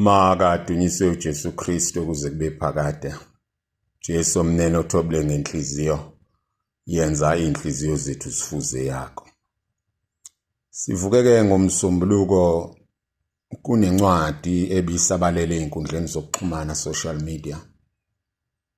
Makadunyiswe uJesu Kristu kuze kube phakade. Jesu omnene othobile ngenhliziyo yenza inhliziyo zethu sifuze yakho. Sivukeke ngomsombuluko kunencwadi ebisabalele ezinkundleni zokuxhumana social media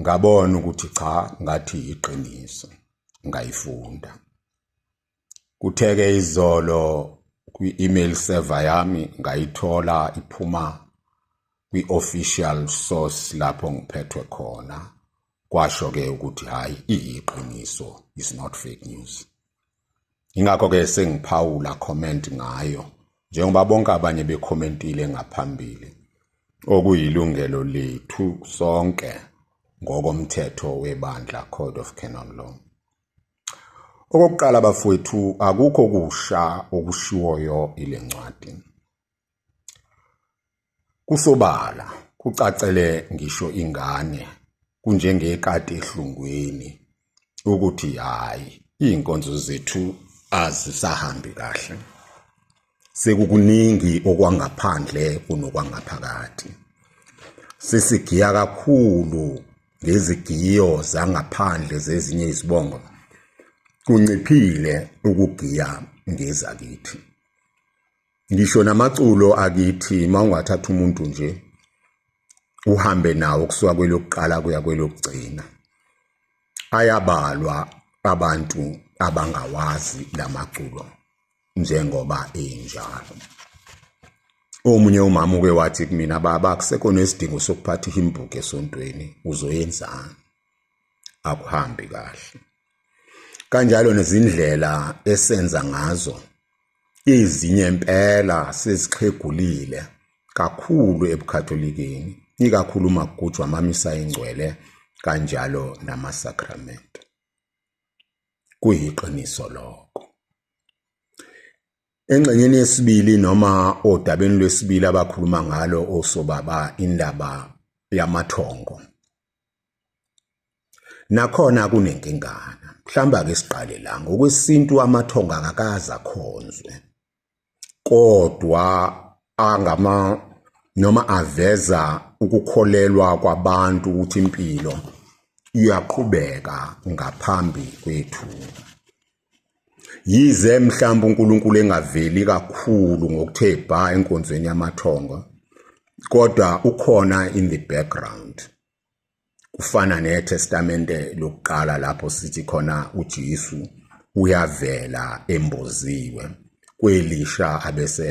ngabona ukuthi cha ngathi iqiniso ngayifunda kutheke izolo kwi-email server yami ngayithola iphuma kwi-official source lapho ngiphethwe khona kwasho-ke ukuthi hhayi iyiqiniso is not fake news ingakho ke sengiphawula comment ngayo njengoba bonke abanye becommentile ngaphambili okuyilungelo lethu sonke ngokomthetho webandla Code of Canon Law Okokuqala bafowethu akukho kusha okushiwoyo ile ncwadi Kusobala, kucacele ngisho ingane kunjengekati ehlungwini ukuthi hayi iy'nkonzo zethu azisahambi kahle. Sekukuningi okwangaphandle kunokwangaphakathi. Sesigiya kakhulu ngezigiyo zangaphandle zezinye izibongo. Kunciphile ukugiya ngezakithi. ngisho namaculo akithi uma ungathatha umuntu nje uhambe nawo kusuka kwelokuqala kuya kwelokugcina ayabalwa abantu abangawazi lamaculo njengoba enjalo omunye umama uke wathi kumina baba kusekho nesidingo sokuphatha ihimbuke esontweni uzoyenzani akuhambi kahle kanjalo nezindlela esenza ngazo ezinye impela sezixhegulile kakhulu ebukhatholikeni ikakhulu umagujwa amamisa ingcwele kanjalo namasakramente kuyiqiniso lokho engxenyeni yesibili noma odabeni lwesibili abakhuluma ngalo osobaba indaba yamathongo Nakhona kunenkingana. Mhlawumbe ake siqale la ngokwesintu amathonga akakaza khonzwe. Kodwa angama noma aveza ukukholelwa kwabantu ukuthi impilo iyaqhubeka ngaphambi kwethu. Yize mhlawumbe uNkulunkulu engaveli kakhulu ngokuthe bha enkonzweni yamathongo, kodwa ukhona in the background. Kufana neTestamente lokuqala lapho sithi khona uJesu uyavela emboziwe, kwelisha abese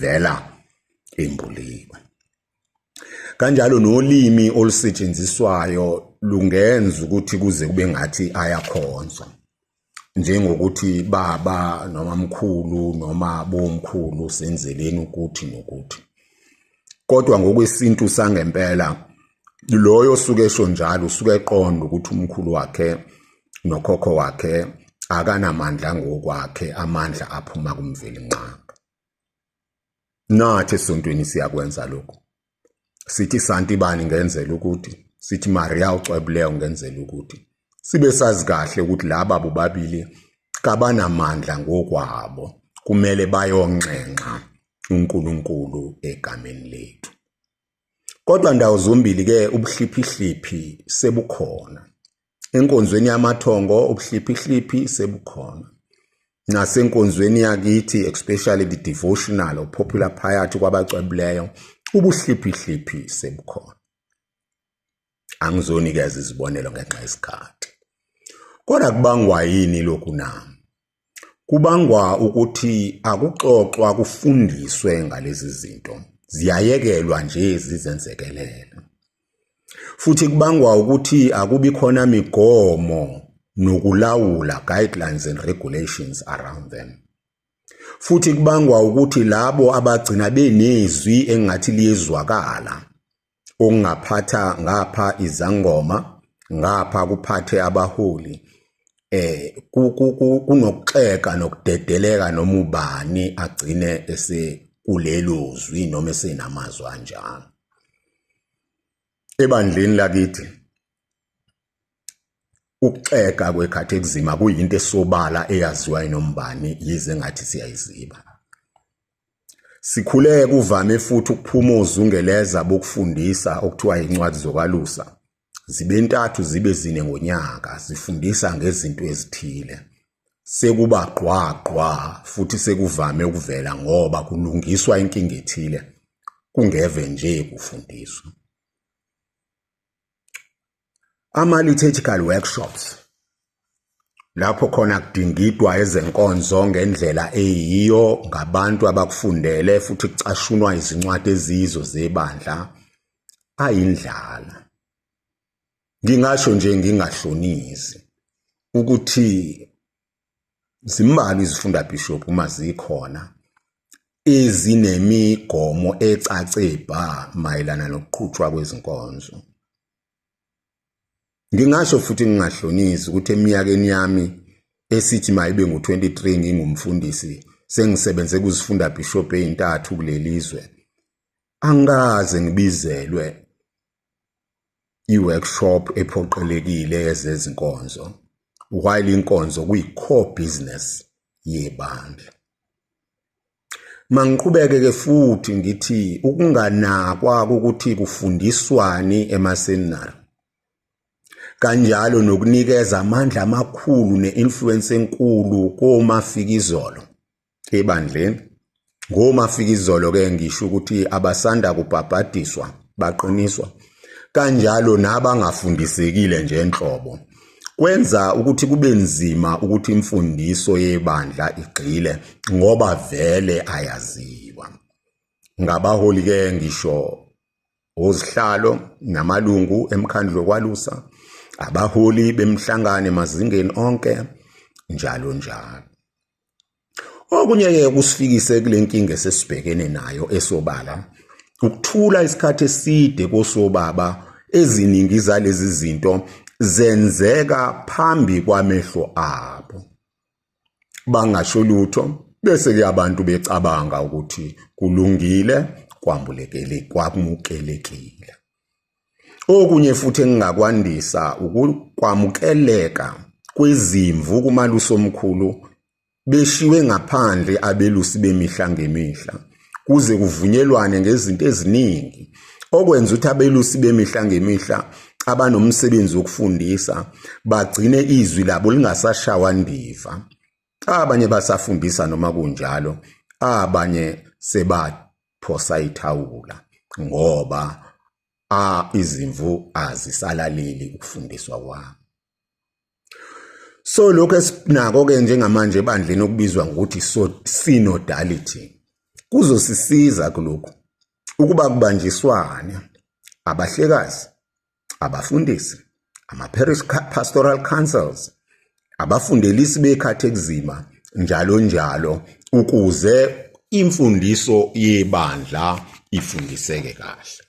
vela embuliwe. Kanjalo nolimi olusetshenziswayo lungenza ukuthi kuze kube ngathi ayakhonzwa. Njengokuthi baba noma mkhulu noma bomkhulu senzeleni ukuthi nokuthi. Kodwa ngokwesintu sangempela loyo osuke esho njalo usuke eqonda ukuthi umkhulu wakhe nokhokho wakhe akanamandla ngokwakhe amandla aphuma kumveli nqangi. Nathi esontweni siyakwenza lokhu. Sithi Santibani ngenzela ukuthi, sithi Maria ucwebuleyo ngenzela ukuthi. Sibe sazi kahle ukuthi laba bobabili kabanamandla ngokwabo. Kumele bayonxenxa uNkulunkulu egameni lethu. Kodwa ndawo zombili ke ubuhliphihliphi sebukhona. Enkonzweni yamathongo ubuhliphihliphi sebukhona. Nasenkonzweni yakithi especially the devotional or popular piety kwabacwebileyo ubuhliphihliphi sebukhona. Angizonikeza izibonelo ngenxa yesikhathi. Kodwa kubangwa yini lokhu na? Kubangwa ukuthi akuxoxwa kufundiswe ngalezi zinto, ziyayekelwa nje zizenzekelele. Futhi kubangwa ukuthi akubi khona migomo nokulawula guidelines and regulations around them. Futhi kubangwa ukuthi labo abagcina benezwi engathi liyezwakala ungaphatha ngapha izangoma ngapha kuphathe abaholi eh kunokuxeka nokudedeleka noma ubani agcine ese kulelo zwi noma esenamazwi anjalo ebandleni lakithi ukuxeka kwekhathi ekuzima kuyinto esobala eyaziwa inombani yize ngathi siyayiziba Sikhule kuvame futhi ukuphuma ozungeleza bokufundisa okuthiwa yincwadi zokwalusa zibe ntathu zibe zine ngonyaka zifundisa ngezinto ezithile sekuba gqwa gqwa futhi sekuvame ukuvela ngoba kulungiswa inkinga ethile kungeve nje kufundiswa ama-liturgical workshops lapho khona kudingidwa ezenkonzo ngendlela eyiyo ngabantu abakufundele futhi kucashunwa izincwadi eziyizo zebandla ayindlala ngingasho nje ngingahlonisi ukuthi zimbalwa izifunda bishop uma zikhona ezinemigomo ecace bha mayelana nokuqhutshwa kwezinkonzo Ngingasho futhi ngingahlonisi ukuthi eminyakeni yami esithi mayibe ngu-23 ngingumfundisi sengisebenze kuzifunda bishop ezintathu kulelizwe angikaze ngibizelwe i-workshop ephoqelekile yezezinkonzo while inkonzo kuyi-core business yebandla Mangiqhubeke ke futhi ngithi ukunganakwa ukuthi kufundiswani emaseminari kanjalo nokunikeza amandla amakhulu ne-influence enkulu komafikizolo ebandleni ngomafikizolo ke ngisho ukuthi abasanda kubhabhadiswa baqiniswa kanjalo nabangafundisekile nje enhlobo Kwenza ukuthi kube nzima ukuthi imfundiso yebandla igxile ngoba vele ayaziwa. Ngabaholi ke ngisho ozihlalo namalungu emkhandlu wokwalusa, abaholi bemhlangano emazingeni onke njalo njalo. Okunye-ke kusifikise kule nkinga esesibhekene nayo esobala ukuthula isikhathi eside kosobaba eziningi zalezi zinto zenzeka phambi kwamehlo abo bangasho lutho bese ke abantu becabanga ukuthi kulungile kwambulekele kwamukelekile Okunye futhi engingakwandisa ukukwamukeleka kwezimvu kumalusi omkhulu beshiwe ngaphandle abelusi bemihla ngemihla kuze kuvunyelwane ngezinto eziningi okwenza ukuthi abelusi bemihla ngemihla abanomsebenzi wokufundisa bagcine izwi labo lingasashawa ndiva abanye basafundisa noma kunjalo abanye seba phosa ithawula ngoba a izimvu azisalaleli ukufundiswa kwami so lokho esinako ke njengamanje ebandleni okubizwa ngokuthi so synodality kuzosisiza kulokhu ukuba kubanjiswane abahlekazi abafundisi ama-parish pastoral councils abafundelisi bekhathi ekuzima njalo njalo ukuze imfundiso yebandla ifundiseke kahle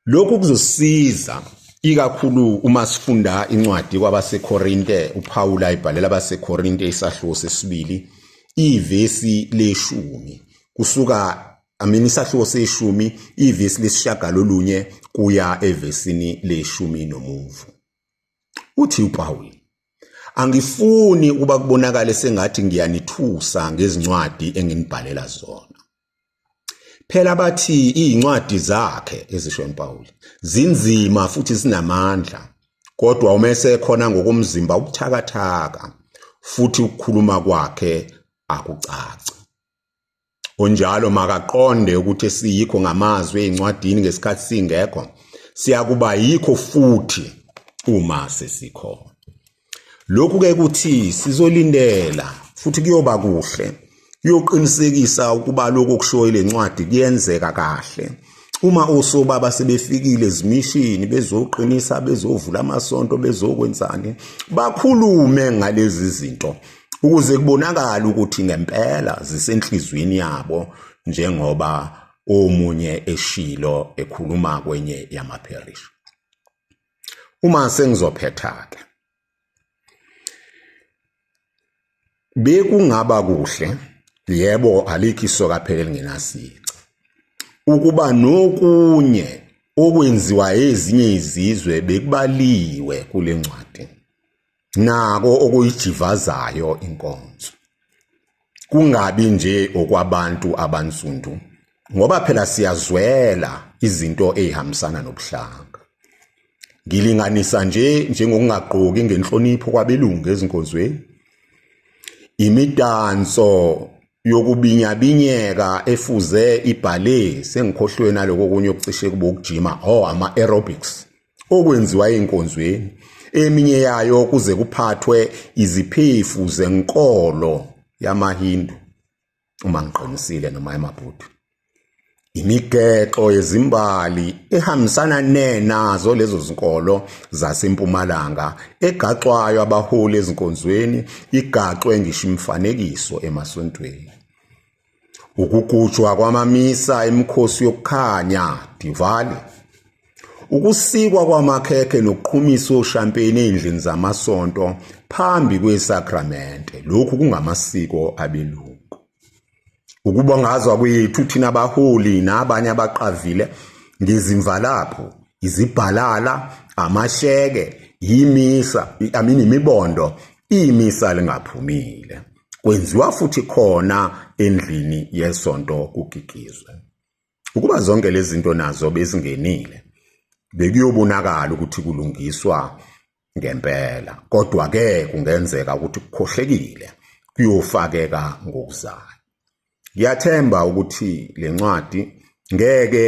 lokhu kuzosiza ikakhulu uma sifunda incwadi kwabaseKorinte uPawulu ayibhalela abaseKorinte isahluko sesibili ivesi leshumi kusuka amini isahluko seshumi ivesi lesishagalolunye kuya evesini leshumi nomuvu uthi upawuli angifuni ukuba kubonakale sengathi ngiyanithusa ngezincwadi enginibhalela zona phela bathi izincwadi zakhe ezisho impawuli zinzima futhi zinamandla kodwa uma esekhona ngokomzimba ubuthakathaka futhi ukukhuluma kwakhe akucaci Unjalo makaqonde ukuthi siyikho ngamazwi ezincwadini ngesikhathi singekho siyakuba yikho futhi uma sesikhona. Lokhu ke kuthi sizolindela futhi kuyoba kuhle kuyoqinisekisa ukuba lokho okushoyo lencwadi kuyenzeka kahle. uma osobaba sebefikile ezimishini bezoqinisa bezovula amasonto bezokwenzani bakhulume ngalezi zinto ukuze kubonakale ukuthi ngempela zisenhlizweni yabo njengoba omunye eshilo ekhuluma kwenye yamapherishi uma sengizophetha-ke bekungaba kuhle yebo alikho isoka phela elingenasici ukuba nokunye okwenziwa ezinye izizwe bekubaliwe kule ncwadi nako okuyijivazayo inkonzo kungabi nje okwabantu abansundu ngoba phela siyazwela izinto ezihambisana nobuhlanga ngilinganisa nje njengokungagqoki ngenhlonipho kwabelungu ezinkonzweni imidanso yokubinyabinyeka efuze ibhale sengikhohlwe naloko kunye okucishe kube ukujima oh ama-aerobics okwenziwa enkonzweni eminye yayo kuze kuphathwe iziphefu zenkolo yamaHindu uma ngiqinisile noma yamabhudu imigexo yezimbali ehambisana nenazo lezo zinkolo zasempumalanga egaxwayo abaholi ezinkonzweni igaxwe ngisho imifanekiso emasontweni Ukugujwa kwamamisa emikhosi yokukhanya, Diwali. Ukusikwa kwamakhekhe nokuqhumisa oshampeni ezindlini zamasonto phambi kwesakramente. Lokhu kungamasiko abelungu. Ukubongazwa kwethu thina baholi nabanye abaqavile ngezimvalapho, izibhalala, amasheke, yimisa, amini imibondo, imisa lingaphumile. kwenziwa futhi khona endlini yesonto kugigizwe. Ukuba zonke lezi zinto nazo bezingenile, bekuyobonakala ukuthi kulungiswa ngempela. Kodwa-ke kungenzeka ukuthi kukhohlekile kuyofakeka ngokuzayo. Ngiyathemba ukuthi le ncwadi ngeke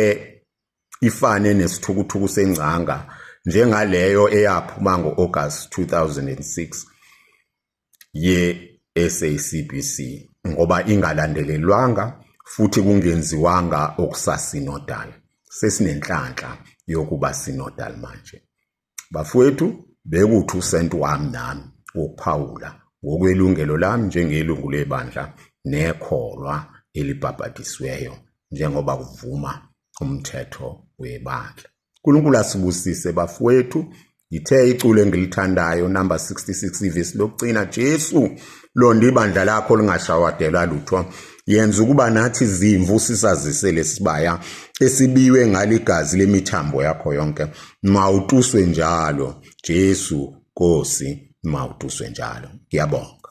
ifane nesithukuthuku sengcanga njengaleyo eyaphuma ngo-August 2006 ye-SACBC ngoba ingalandelelwanga futhi kungenziwanga okusasinodal. Sesinenhlanhla yokuba sinodal manje. Bafowethu, bekuthi usenti wami nami wokuphawula ngokwelungelo lami njengelungu lebandla nekholwa elibhabhadisiweyo njengoba kuvuma umthetho webandla. unkulunkulu asibusise bafowethu ngithe iculo engilithandayo number 66 ivesi lokugcina jesu londa ibandla lakho lingashawadelwa lutho yenza ukuba nathi zimvu sisazise lesibaya esibiwe ngaligazi lemithambo yakho yonke mawutuswe njalo Jesu Nkosi mawutuswe njalo ngiyabonga